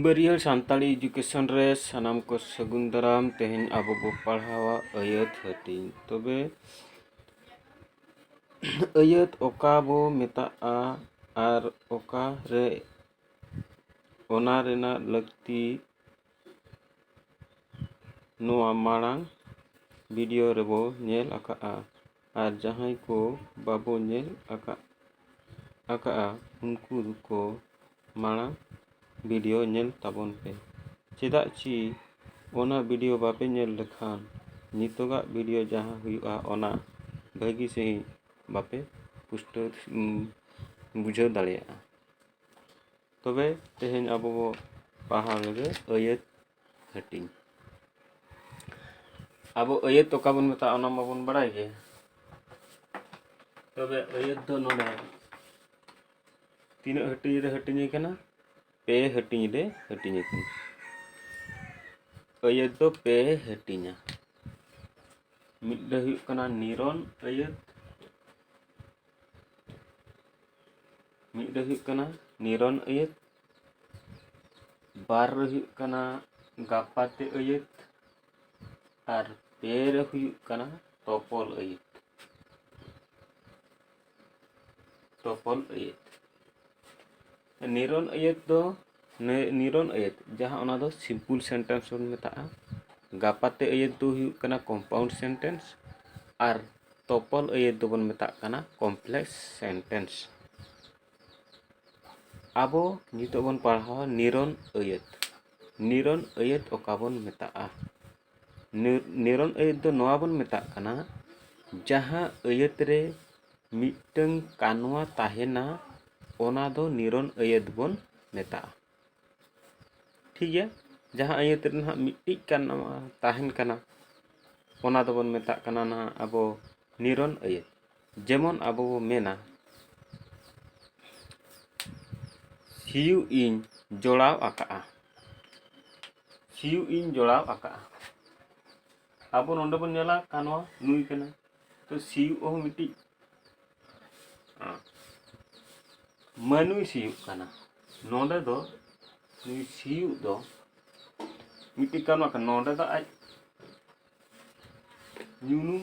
ᱵᱟᱹᱨᱭᱟᱹᱲ Santali education ᱨᱮ ᱥᱟᱱᱟᱢ ᱠᱚ ᱥᱟᱹᱜᱩᱱ ᱫᱟᱨᱟᱢ ᱛᱮᱦᱮᱧ ᱟᱵᱚ ᱵᱚ ᱯᱟᱲᱦᱟᱣᱟ ᱟᱹᱭᱟᱹᱛ ᱦᱟᱹᱴᱤᱧ ᱛᱚᱵᱮ ᱟᱹᱭᱟᱹᱛ ᱚᱠᱟ ᱵᱚ ᱢᱮᱛᱟᱜᱼᱟ ᱟᱨ ᱚᱠᱟᱨᱮ ᱚᱱᱟ ᱨᱮᱱᱟᱜ ᱞᱟᱹᱠᱛᱤ ᱱᱚᱣᱟ ᱢᱟᱲᱟᱝ ᱵᱷᱤᱰᱤᱭᱳ ᱨᱮᱵᱚ ᱧᱮᱞ ᱟᱠᱟᱫᱼᱟ ᱟᱨ ᱡᱟᱦᱟᱸᱭ ᱠᱚ ᱵᱟᱵᱚ ᱧᱮᱞ ᱟᱠᱟᱫ ᱟᱠᱟᱫᱼᱟ ᱩᱱᱠᱩ ᱠᱚ ᱢᱟᱲᱟᱝ ᱵᱷᱤᱰᱤᱭᱳ ᱧᱮᱞ ᱛᱟᱵᱚᱱ ᱯᱮ ᱪᱮᱫᱟᱜ ᱪᱮ ᱚᱱᱟ ᱵᱷᱤᱰᱤᱭᱳ ᱵᱟᱯᱮ ᱧᱮᱞ ᱞᱮᱠᱷᱟᱱ ᱱᱤᱛᱚᱜᱟᱜ ᱵᱷᱤᱰᱤᱭᱳ ᱡᱟᱦᱟᱸ ᱦᱩᱭᱩᱜᱼᱟ ᱚᱱᱟ ᱵᱷᱟᱹᱜᱤ ᱥᱟᱺᱦᱤᱡ ᱵᱟᱯᱮ ᱯᱩᱥᱴᱟᱹᱣ ᱵᱩᱡᱷᱟᱹᱣ ᱫᱟᱲᱮᱭᱟᱜᱼᱟ ᱛᱚᱵᱮ ᱛᱮᱦᱮᱧ ᱟᱵᱚ ᱵᱚ ᱯᱟᱲᱦᱟᱣ ᱞᱮᱜᱮ ᱟᱹᱭᱟᱹᱛ ᱦᱟᱹᱴᱤᱧ ᱟᱵᱚ ᱟᱹᱭᱟᱹᱛ ᱚᱠᱟ ᱵᱚᱱ ᱢᱮᱛᱟᱜᱼᱟ ᱚᱱᱟ ᱢᱟᱵᱚᱱ ᱵᱟᱲᱟᱭ ᱜᱮ ᱛᱚᱵᱮ ᱟᱹᱭᱟᱹᱛ ᱫᱚ ᱱᱚᱰᱮ ᱛᱤᱱᱟᱹᱜ ᱦᱟᱹᱴᱤᱧ ᱨᱮ ᱦᱟᱹᱴᱤᱧ ᱠᱟᱱᱟ ᱯᱮ ᱦᱟᱹᱴᱤᱧ ᱨᱮ ᱦᱟᱹᱴᱤᱧ ᱠᱟᱱᱟ ᱟᱹᱭᱟᱹᱛ ᱫᱚ ᱯᱮ ᱦᱟᱹᱴᱤᱧᱟ ᱢᱤᱫ ᱫᱚ ᱦᱩᱭᱩᱜ ᱠᱟᱱᱟ ᱱᱤᱨᱚᱱ ᱟᱹᱭᱟᱹᱛ ᱢᱤᱫ ᱫᱚ ᱦᱩᱭᱩᱜ ᱠᱟᱱᱟ ᱱᱤᱨᱚᱱ ᱟᱹᱭᱟᱹᱛ ᱵᱟᱨ ᱨᱮ ᱦᱩᱭᱩᱜ ᱠᱟᱱᱟ ᱜᱟᱯᱟᱛᱮ ᱟᱹᱭᱟᱹᱛ ᱟᱨ ᱯᱮ ᱨᱮ ᱦᱩᱭᱩᱜ ᱠᱟᱱᱟ ᱛᱚᱯᱚᱞ ᱟᱹᱭᱟᱹᱛ ᱛᱚᱯᱚᱞ ᱟᱹᱭᱟᱹᱛ ᱱᱤᱨᱚᱱ ᱟᱹᱭᱟᱹᱛ ᱫᱚ ᱱᱤᱨᱚᱱ ᱟᱹᱭᱟᱹᱛ ᱡᱟᱦᱟᱸ ᱚᱱᱟ ᱫᱚ ᱥᱤᱢᱯᱤᱞ ᱥᱮᱱᱴᱮᱱᱥ ᱵᱚᱱ ᱢᱮᱛᱟᱜᱼᱟ ᱜᱟᱯᱟᱛᱮ ᱟᱹᱭᱟᱹᱛ ᱫᱚ ᱦᱩᱭᱩᱜ ᱠᱟᱱᱟ ᱠᱚᱢᱯᱟᱣᱩᱱᱰ ᱥᱮᱱᱴᱮᱱᱥ ᱟᱨ ᱛᱚᱯᱚᱞ ᱟᱹᱭᱟᱹᱛ ᱫᱚᱵᱚᱱ ᱢᱮᱛᱟᱜ ᱠᱟᱱᱟ ᱠᱚᱢᱯᱞᱮᱠᱥ ᱥᱮᱱᱴᱮᱱᱥ ᱟᱵᱚ ᱱᱤᱛᱚᱜ ᱵᱚᱱ ᱯᱟᱲᱦᱟᱣᱟ ᱱᱤᱨᱚᱱ ᱟᱹᱭᱟᱹᱛ ᱱᱤᱨᱚᱱ ᱟᱹᱭᱟᱹᱛ ᱚᱠᱟ ᱵᱚᱱ ᱢᱮᱛᱟᱜᱼᱟ ᱱᱤᱨᱚᱱ ᱟᱹᱭᱟᱹᱛ ᱫᱚ ᱱᱚᱣᱟ ᱵᱚᱱ ᱢᱮᱛᱟᱜ ᱠᱟᱱᱟ ᱡᱟᱦᱟᱸ ᱟᱹᱭᱟᱹᱛ ᱨᱮ ᱢᱤᱫᱴᱟᱹᱝ ᱠᱟᱱᱣᱟ ᱛᱟᱦᱮᱱᱟ ᱚᱱᱟ ᱫᱚ ᱱᱤᱨᱚᱱ ᱟᱹᱭᱟᱹᱛ ᱵᱚᱱ ᱢᱮᱛᱟᱜᱼᱟ ᱴᱷᱤᱠ ᱜᱮᱭᱟ ᱡᱟᱦᱟᱸ ᱟᱹᱭᱟᱹᱛ ᱨᱮ ᱱᱟᱦᱟᱜ ᱢᱤᱫᱴᱤᱡ ᱠᱟᱱᱣᱟ ᱛᱟᱦᱮᱱ ᱠᱟᱱᱟ ᱚᱱᱟ ᱫᱚᱵᱚᱱ ᱢᱮᱛᱟᱜ ᱠᱟᱱᱟ ᱱᱟᱦᱟᱜ ᱟᱵᱚ ᱱᱤᱨᱚᱱ ᱟᱹᱭᱟᱹᱛ ᱡᱮᱢᱚᱱ ᱟᱵᱚ ᱵᱚ ᱢᱮᱱᱟ ᱥᱤᱭᱩᱜ ᱤᱧ ᱡᱚᱲᱟᱣ ᱟᱠᱟᱫᱼᱟ ᱥᱤᱭᱩᱜ ᱤᱧ ᱡᱚᱲᱟᱣ ᱟᱠᱟᱫᱼᱟ ᱟᱵᱚ ᱱᱚᱰᱮ ᱵᱚᱱ ᱧᱮᱞᱟ ᱠᱟᱱᱣᱟ ᱱᱩᱭ ᱠᱟᱱᱟ ᱛᱚ ᱥᱤᱭᱩᱜ ᱦᱚᱸ ᱢᱤᱫᱴᱤᱡ ᱢᱟᱹᱱᱩᱭ ᱥᱤᱭᱩᱜ ᱠᱟᱱᱟ ᱱᱚᱰᱮ ᱫᱚ ᱱᱩᱭ ᱥᱤᱭᱩᱜ ᱫᱚ ᱢᱤᱫᱴᱤᱡ ᱠᱟᱱᱣᱟ ᱠᱟᱱᱟ ᱱᱚᱰᱮ ᱫᱚ ᱟᱡ ᱧᱩᱱᱩᱢ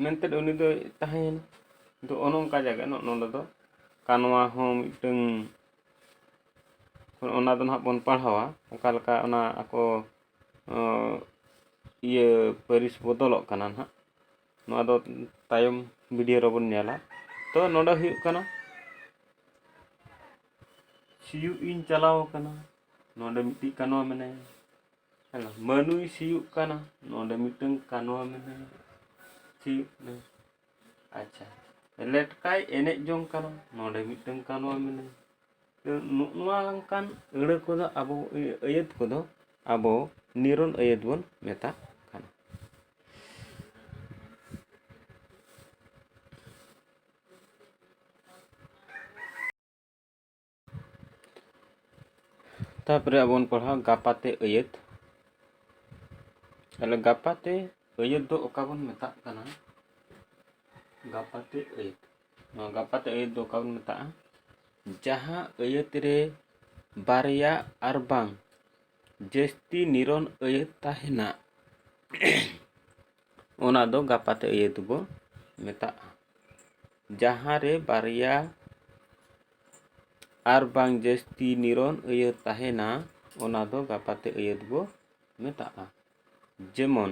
ᱢᱮᱱᱛᱮ ᱩᱱᱤ ᱫᱚᱭ ᱛᱟᱦᱮᱸᱭᱮᱱᱟ ᱫᱚ ᱚᱱᱮ ᱚᱱᱠᱟ ᱡᱟᱭᱜᱟ ᱱᱚᱜᱼᱚ ᱱᱚᱰᱮ ᱫᱚ ᱠᱟᱱᱣᱟ ᱦᱚᱸ ᱢᱤᱫᱴᱟᱹᱝ ᱚᱱᱟ ᱫᱚ ᱱᱟᱦᱟᱜ ᱵᱚᱱ ᱯᱟᱲᱦᱟᱣᱟ ᱚᱠᱟ ᱞᱮᱠᱟ ᱚᱱᱟ ᱟᱠᱚ ᱤᱭᱟᱹ ᱯᱟᱹᱨᱤᱥ ᱵᱚᱫᱚᱞᱚᱜ ᱠᱟᱱᱟ ᱱᱟᱦᱟᱜ ᱱᱚᱣᱟ ᱫᱚ ᱛᱟᱭᱚᱢ ᱵᱷᱤᱰᱤᱭᱳ ᱨᱮᱵᱚᱱ ᱧᱮᱞᱟ ᱛᱚ ᱱᱚᱰᱮ ᱦᱩᱭᱩᱜ ᱠᱟᱱᱟ ᱥᱤᱭᱩᱜ ᱤᱧ ᱪᱟᱞᱟᱣ ᱟᱠᱟᱱᱟ ᱱᱚᱰᱮ ᱢᱤᱫᱴᱤᱡ ᱠᱟᱱᱣᱟ ᱢᱮᱱᱟᱭᱟ ᱦᱮᱸ ᱢᱟᱹᱱᱩᱭ ᱥᱤᱭᱩᱜ ᱠᱟᱱᱟ ᱱᱚᱰᱮ ᱢᱤᱫᱴᱟᱝ ᱠᱟᱱᱣᱟ ᱢᱮᱱᱟᱭᱟ ᱥᱤᱭᱩᱜ ᱠᱟᱱᱟ ᱟᱪᱪᱷᱟ ᱞᱮᱴᱠᱟᱭ ᱮᱱᱮᱡ ᱡᱚᱝ ᱠᱟᱱᱟ ᱱᱚᱰᱮ ᱢᱤᱫᱴᱟᱝ ᱠᱟᱱᱣᱟ ᱢᱮᱱᱟᱭᱟ ᱱᱚᱣᱟ ᱚᱱᱠᱟᱱ ᱟᱹᱲᱟᱹ ᱠᱚᱫᱚ ᱟᱵᱚ ᱟᱹᱭᱟᱹᱛ ᱠᱚᱫᱚ ᱟᱵᱚ ᱱᱤᱨᱚᱱ ᱟᱹᱭᱟᱹᱛ ᱵᱚᱱ ᱢᱮᱛᱟᱜ ᱠᱟᱱᱟ ᱛᱟᱨᱯᱚᱨᱮ ᱟᱵᱚ ᱵᱚᱱ ᱯᱟᱲᱦᱟᱣᱟ ᱜᱟᱯᱟᱛᱮ ᱟᱹᱭᱟᱹᱛ ᱛᱟᱦᱚᱞᱮ ᱜᱟᱯᱟᱛᱮ ᱟᱹᱭᱟᱹᱛ ᱫᱚ ᱚᱠᱟ ᱵᱚᱱ ᱢᱮᱛᱟᱜ ᱠᱟᱱᱟ ᱜᱟᱯᱟᱛᱮ ᱟᱹᱭᱟᱹᱛ ᱱᱚᱣᱟ ᱜᱟᱯᱟᱛ ᱟᱹᱭᱟᱹᱛ ᱫᱚ ᱚᱠᱟ ᱵᱚᱱ ᱢᱮᱛᱟᱜᱼᱟ ᱡᱟᱦᱟᱸ ᱟᱹᱭᱟᱹᱛ ᱨᱮ ᱵᱟᱨᱭᱟ ᱟᱨ ᱵᱟᱝ ᱡᱟᱹᱥᱛᱤ ᱱᱤᱨᱚᱱ ᱟᱹᱭᱟᱹᱛ ᱛᱟᱦᱮᱱᱟ ᱚᱱᱟ ᱫᱚ ᱜᱟᱯᱟᱛ ᱟᱹᱭᱟᱹᱛ ᱵᱚ ᱢᱮᱛᱟᱜᱼᱟ ᱡᱟᱦᱟᱸ ᱨᱮ ᱵᱟᱨᱭᱟ ᱟᱨ ᱵᱟᱝ ᱡᱟᱹᱥᱛᱤ ᱱᱤᱨᱚᱱ ᱟᱹᱭᱟᱹᱛ ᱛᱟᱦᱮᱱᱟ ᱚᱱᱟ ᱫᱚ ᱜᱟᱯᱟᱛᱮ ᱟᱹᱭᱟᱹᱛ ᱵᱚ ᱢᱮᱛᱟᱜᱼᱟ ᱡᱮᱢᱚᱱ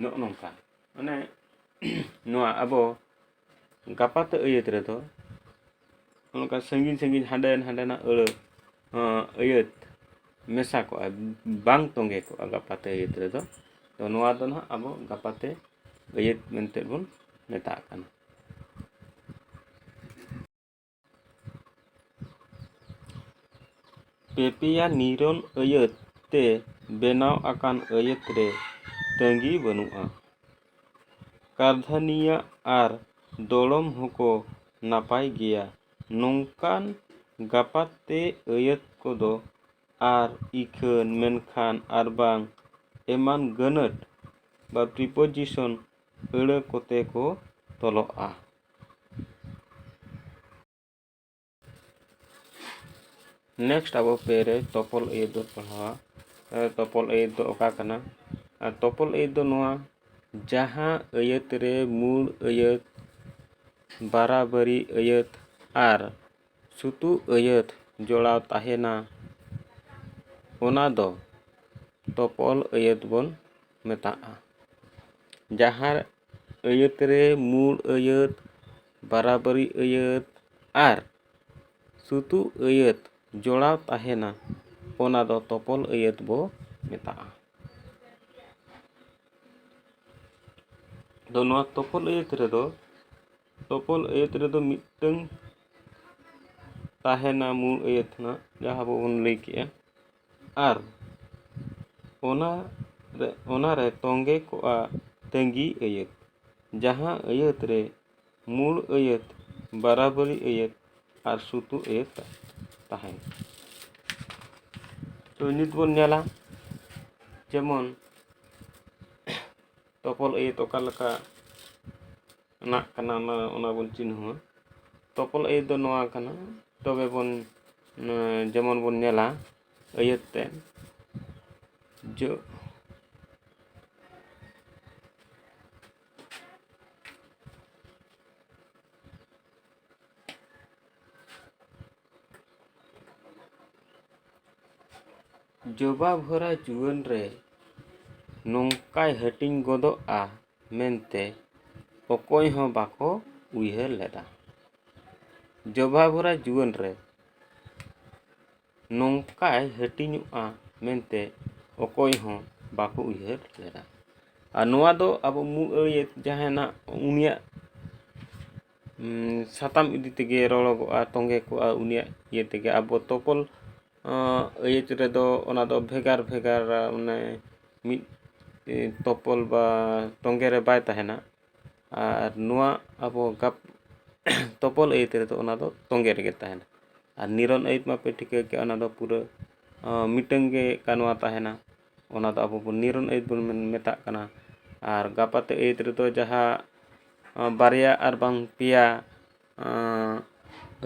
ᱱᱚᱜᱼᱚ ᱱᱚᱝᱠᱟ ᱢᱟᱱᱮ ᱱᱚᱣᱟ ᱟᱵᱚ ᱜᱟᱯᱟᱛᱮ ᱟᱹᱭᱟᱹᱛ ᱨᱮᱫᱚ ᱚᱱᱠᱟ ᱥᱟᱺᱜᱤᱧ ᱥᱟᱺᱜᱤᱧ ᱦᱟᱸᱰᱮ ᱦᱟᱸᱰᱮᱱᱟᱜ ᱟᱹᱲᱟᱹ ᱟᱹᱭᱟᱹᱛ ᱢᱮᱥᱟ ᱠᱚᱜᱼᱟ ᱵᱟᱝ ᱛᱚᱸᱜᱮ ᱠᱚᱜᱼᱟ ᱜᱟᱯᱟᱛᱮ ᱟᱹᱭᱟᱹᱛ ᱨᱮᱫᱚ ᱛᱚ ᱱᱚᱣᱟ ᱫᱚ ᱱᱟᱦᱟᱜ ᱟᱵᱚ ᱜᱟᱯᱟᱛᱮ ᱟᱹᱭᱟᱹᱛ ᱢᱮᱱᱛᱮ ᱵᱚᱱ ᱢᱮᱛᱟᱜ ᱠᱟᱱᱟ ᱯᱮ ᱯᱮᱭᱟ ᱱᱤᱨᱚᱱ ᱟᱹᱭᱟᱹᱛ ᱛᱮ ᱵᱮᱱᱟᱣ ᱟᱠᱟᱱ ᱟᱹᱭᱟᱹᱛ ᱨᱮ ᱛᱟᱹᱜᱤ ᱵᱟᱹᱱᱩᱜᱼᱟ ᱠᱟᱨᱫᱷᱟᱹᱱᱤᱭᱟᱹ ᱟᱨ ᱫᱚᱲᱚᱢ ᱦᱚᱸᱠᱚ ᱱᱟᱯᱟᱭ ᱜᱮᱭᱟ ᱱᱚᱝᱠᱟᱱ ᱜᱟᱯᱟᱛᱮ ᱟᱹᱭᱟᱹᱛ ᱠᱚᱫᱚ ᱟᱨ ᱤᱠᱷᱟᱹᱱ ᱢᱮᱱᱠᱷᱟᱱ ᱟᱨ ᱵᱟᱝ ᱮᱢᱟᱱ ᱜᱟᱹᱱᱟᱹᱛ ᱵᱟ ᱯᱨᱤᱯᱳᱡᱤᱥᱚᱱ ᱟᱹᱲᱟᱹ ᱠᱚᱛᱮ ᱠᱚ ᱛᱚᱞᱚᱜᱼᱟ ᱱᱮᱠᱥᱴ ᱟᱵᱚ ᱯᱮ ᱨᱮ ᱛᱚᱯᱚᱞ ᱟᱹᱭᱟᱹᱛ ᱵᱚᱱ ᱯᱟᱲᱦᱟᱣᱟ ᱛᱚᱯᱚᱞ ᱟᱹᱭᱟᱹᱛ ᱫᱚ ᱚᱠᱟ ᱠᱟᱱᱟ ᱟᱨ ᱛᱚᱯᱚᱞ ᱟᱹᱭᱟᱹᱛ ᱫᱚ ᱱᱚᱣᱟ ᱡᱟᱦᱟᱸ ᱟᱹᱭᱟᱹᱛ ᱨᱮ ᱢᱩᱬ ᱟᱹᱭᱟᱹᱛ ᱵᱟᱨᱟᱵᱟᱹᱨᱤ ᱟᱹᱭᱟᱹᱛ ᱟᱨ ᱥᱩᱛᱩᱜ ᱟᱹᱭᱟᱹᱛ ᱡᱚᱲᱟᱣ ᱛᱟᱦᱮᱱᱟ ᱚᱱᱟ ᱫᱚ ᱛᱚᱯᱚᱞ ᱟᱹᱭᱟᱹᱛ ᱵᱚᱱ ᱢᱮᱛᱟᱜᱼᱟ ᱡᱟᱦᱟᱸ ᱟᱹᱭᱟᱹᱛ ᱨᱮ ᱢᱩᱬ ᱟᱹᱭᱟᱹᱛ ᱵᱟᱨᱟᱵᱟᱹᱨᱤ ᱟᱹᱭᱟᱹᱛ ᱟᱨ ᱥᱩᱛᱩᱜ ᱟᱹᱭᱟᱹᱛ ᱡᱚᱲᱟᱣ ᱛᱟᱦᱮᱱᱟ ᱚᱱᱟ ᱫᱚ ᱛᱚᱯᱚᱞ ᱟᱹᱭᱟᱹᱛ ᱵᱚ ᱢᱮᱛᱟᱜᱼᱟ ᱟᱫᱚ ᱱᱚᱣᱟ ᱛᱚᱯᱚᱞ ᱟᱹᱭᱟᱹᱛ ᱨᱮᱫᱚ ᱛᱚᱯᱚᱞ ᱟᱹᱭᱟᱹᱛ ᱨᱮᱫᱚ ᱢᱤᱫᱴᱟᱹᱝ ᱛᱟᱦᱮᱱᱟ ᱢᱩᱬ ᱟᱹᱭᱟᱹᱛ ᱦᱟᱸᱜ ᱡᱟᱦᱟᱸ ᱟᱵᱚ ᱵᱚᱱ ᱞᱟᱹᱭ ᱠᱮᱜᱼᱟ ᱟᱨ ᱚᱱᱟ ᱨᱮ ᱚᱱᱟ ᱨᱮ ᱛᱚᱸᱜᱮ ᱠᱚᱜᱼᱟ ᱛᱟᱹᱜᱤ ᱟᱹᱭᱟᱹᱛ ᱡᱟᱦᱟᱸ ᱟᱹᱭᱟᱹᱛ ᱨᱮ ᱢᱩᱬ ᱟᱹᱭᱟᱹᱛ ᱵᱟᱨᱟᱵᱟᱹᱨᱤ ᱟᱹᱭᱟᱹᱛ ᱟᱨ ᱥᱩᱛᱩ ᱟᱹᱭᱟᱹᱛ ᱛᱟᱦᱮᱱᱟ ᱛᱚ ᱱᱤᱛ ᱵᱚᱱ ᱧᱮᱞᱟ ᱡᱮᱢᱚᱱ ᱛᱚᱯᱚᱞ ᱟᱹᱭᱟᱹᱛ ᱚᱠᱟ ᱞᱮᱠᱟ ᱱᱟᱜ ᱠᱟᱱᱟ ᱚᱱᱟ ᱚᱱᱟ ᱵᱚᱱ ᱪᱤᱱᱦᱟᱹᱣᱟ ᱛᱚᱯᱚᱞ ᱟᱹᱭᱟᱹᱛ ᱫᱚ ᱱᱚᱣᱟ ᱠᱟᱱᱟ ᱛᱚᱵᱮ ᱵᱚᱱ ᱡᱮᱢᱚᱱ ᱵᱚᱱ ᱧᱮᱞᱟ ᱟᱹᱭᱟᱹᱛ ᱛᱮ ᱡᱚ ᱡᱚᱵᱟ ᱵᱷᱚᱨᱟ ᱡᱩᱣᱟᱹᱱ ᱨᱮ ᱱᱚᱝᱠᱟᱭ ᱦᱟᱹᱴᱤᱧ ᱜᱚᱫᱚᱜᱼᱟ ᱢᱮᱱᱛᱮ ᱚᱠᱚᱭ ᱦᱚᱸ ᱵᱟᱠᱚ ᱩᱭᱦᱟᱹᱨ ᱞᱮᱫᱟ᱾ ᱡᱚᱵᱷᱟ ᱵᱷᱚᱨᱟ ᱡᱩᱣᱟᱹᱱ ᱨᱮ ᱱᱚᱝᱠᱟᱭ ᱦᱟᱹᱴᱤᱧᱚᱜᱼᱟ ᱢᱮᱱᱛᱮ ᱚᱠᱚᱭ ᱦᱚᱸ ᱵᱟᱠᱚ ᱩᱭᱦᱟᱹᱨ ᱞᱮᱫᱟ᱾ ᱟᱨ ᱱᱚᱣᱟ ᱫᱚ ᱟᱵᱚ ᱢᱩᱬ ᱟᱹᱨᱤᱭᱟᱹ ᱡᱟᱦᱟᱸᱭ ᱱᱟᱜ ᱩᱱᱤᱭᱟᱜ ᱥᱟᱛᱟᱢ ᱤᱫᱤ ᱛᱮᱜᱮ ᱨᱚᱲᱚᱜᱚᱜᱼᱟ ᱛᱚᱸᱜᱮ ᱠᱚᱜᱼᱟ ᱩᱱᱤᱭᱟᱜ ᱤᱭᱟᱹ ᱛᱮᱜᱮ ᱟᱵᱚ ᱛᱚᱯᱚᱞ ᱟᱹᱭᱟᱹᱛ ᱨᱮᱫᱚ ᱚᱱᱟ ᱫᱚ ᱵᱷᱮᱜᱟᱨ ᱵᱷᱮᱜᱟᱨ ᱢᱟᱱᱮ ᱢᱤᱫ ᱛᱚᱯᱚᱞ ᱵᱟ ᱛᱚᱸᱜᱮ ᱨᱮ ᱵᱟᱭ ᱛᱟᱦᱮᱱᱟ ᱟᱨ ᱱᱚᱣᱟ ᱟᱵᱚ ᱜᱟᱯ ᱛᱚᱯᱚᱞ ᱟᱹᱭᱟᱹᱛ ᱨᱮᱫᱚ ᱚᱱᱟ ᱫᱚ ᱛᱚᱸᱜᱮ ᱨᱮᱜᱮ ᱛᱟᱦᱮᱱᱟ ᱟᱨ ᱱᱤᱨᱚᱱ ᱟᱹᱭᱟᱹᱛ ᱢᱟᱯᱮ ᱴᱷᱤᱠᱟᱹ ᱠᱮᱜ ᱚᱱᱟ ᱫᱚ ᱯᱩᱨᱟᱹ ᱢᱤᱫᱴᱟᱹᱝ ᱜᱮ ᱠᱟᱱᱣᱟ ᱛᱟᱦᱮᱱᱟ ᱚᱱᱟ ᱫᱚ ᱟᱵᱚ ᱵᱚᱱ ᱱᱤᱨᱚᱱ ᱟᱹᱭᱟᱹᱛ ᱵᱚᱱ ᱢᱮᱛᱟᱜ ᱠᱟᱱᱟ ᱟᱨ ᱜᱟᱯᱟᱛᱮ ᱟᱹᱭᱟᱹᱛ ᱨᱮᱫᱚ ᱡᱟᱦᱟᱸ ᱵᱟᱨᱭᱟ ᱟᱨ ᱵᱟᱝ ᱯᱮᱭᱟ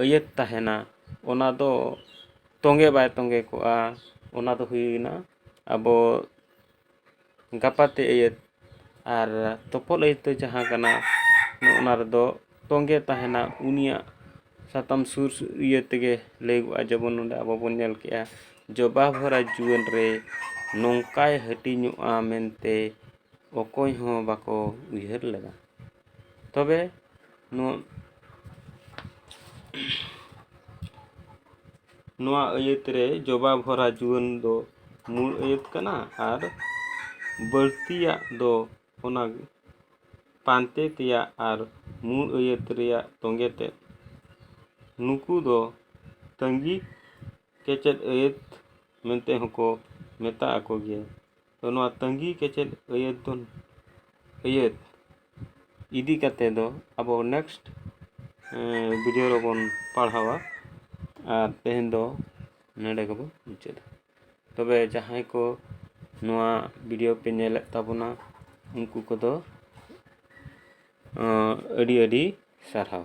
ᱟᱹᱭᱟᱹᱛ ᱛᱟᱦᱮᱱᱟ ᱚᱱᱟ ᱫᱚ ᱛᱚᱸᱜᱮ ᱵᱟᱭ ᱛᱚᱸᱜᱮ ᱠᱚᱜᱼᱟ ᱚᱱᱟ ᱫᱚ ᱦᱩᱭᱮᱱᱟ ᱟᱵᱚ ᱜᱟᱯᱟᱛᱮ ᱟᱹᱭᱟᱹᱛ ᱟᱨ ᱛᱚᱯᱚᱫ ᱟᱹᱭᱟᱹᱛ ᱫᱚ ᱡᱟᱦᱟᱸ ᱠᱟᱱᱟ ᱚᱱᱟ ᱨᱮᱫᱚ ᱛᱚᱸᱜᱮ ᱛᱟᱦᱮᱱᱟ ᱩᱱᱤᱭᱟᱜ ᱥᱟᱛᱟᱢ ᱥᱩᱨ ᱤᱭᱟᱹ ᱛᱮᱜᱮ ᱞᱟᱹᱭᱟᱹᱜᱚᱜᱼᱟ ᱡᱮᱢᱚᱱ ᱱᱚᱰᱮ ᱟᱵᱚ ᱵᱚᱱ ᱧᱮᱞ ᱠᱮᱜᱼᱟ ᱡᱚᱵᱟ ᱵᱷᱚᱨᱟ ᱡᱩᱣᱟᱹᱱ ᱨᱮ ᱱᱚᱝᱠᱟᱭ ᱦᱟᱹᱴᱤᱧᱚᱜᱼᱟ ᱢᱮᱱᱛᱮ ᱚᱠᱚᱭ ᱦᱚᱸ ᱵᱟᱠᱚ ᱩᱭᱦᱟᱹᱨ ᱞᱮᱫᱟ ᱛᱚᱵᱮ ᱱᱚᱣᱟ ᱱᱚᱣᱟ ᱟᱹᱭᱟᱹᱛ ᱨᱮ ᱡᱚᱵᱟ ᱵᱷᱚᱨᱟ ᱡᱩᱣᱟᱹᱱ ᱫᱚ ᱢᱩᱬ ᱟᱹᱭᱟᱹᱛ ᱠᱟᱱᱟ ᱟᱨ ᱵᱟᱹᱲᱛᱤᱭᱟᱜ ᱫᱚ ᱚᱱᱟ ᱯᱟᱱᱛᱮ ᱛᱮᱭᱟᱜ ᱟᱨ ᱢᱩᱬ ᱟᱹᱭᱟᱹᱛ ᱨᱮᱭᱟᱜ ᱛᱚᱸᱜᱮ ᱛᱮᱫ ᱱᱩᱠᱩ ᱫᱚ ᱛᱟᱹᱜᱤ ᱠᱮᱪᱮᱫ ᱟᱹᱭᱟᱹᱛ ᱢᱮᱱᱛᱮ ᱦᱚᱸᱠᱚ ᱢᱮᱛᱟ ᱟᱠᱚ ᱜᱮᱭᱟ ᱛᱚ ᱱᱚᱣᱟ ᱛᱟᱹᱜᱤ ᱠᱮᱪᱮᱫ ᱟᱹᱭᱟᱹᱛ ᱫᱚ ᱟᱹᱭᱟᱹᱛ ᱤᱫᱤ ᱠᱟᱛᱮ ᱫᱚ ᱟᱵᱚ ᱱᱮᱠᱥᱴ ᱵᱷᱤᱰᱤᱭᱳ ᱨᱮᱵᱚᱱ ᱯᱟᱲᱦᱟᱣᱟ ᱟᱨ ᱛᱮᱦᱮᱧ ᱫᱚ ᱱᱚᱰᱮ ᱜᱮᱵᱚᱱ ᱢᱩᱪᱟᱹᱫᱟ ᱛᱚᱵᱮ ᱡᱟᱦᱟᱸᱭ ᱠᱚ ᱱᱚᱣᱟ ᱵᱷᱤᱰᱤᱭᱳ ᱯᱮ ᱧᱮᱞᱮᱫ ᱛᱟᱵᱚᱱᱟ ᱩᱱᱠᱩ ᱠᱚᱫᱚ ᱟᱹᱰᱤ ᱟᱹᱰᱤ ᱥᱟᱨᱦᱟᱣ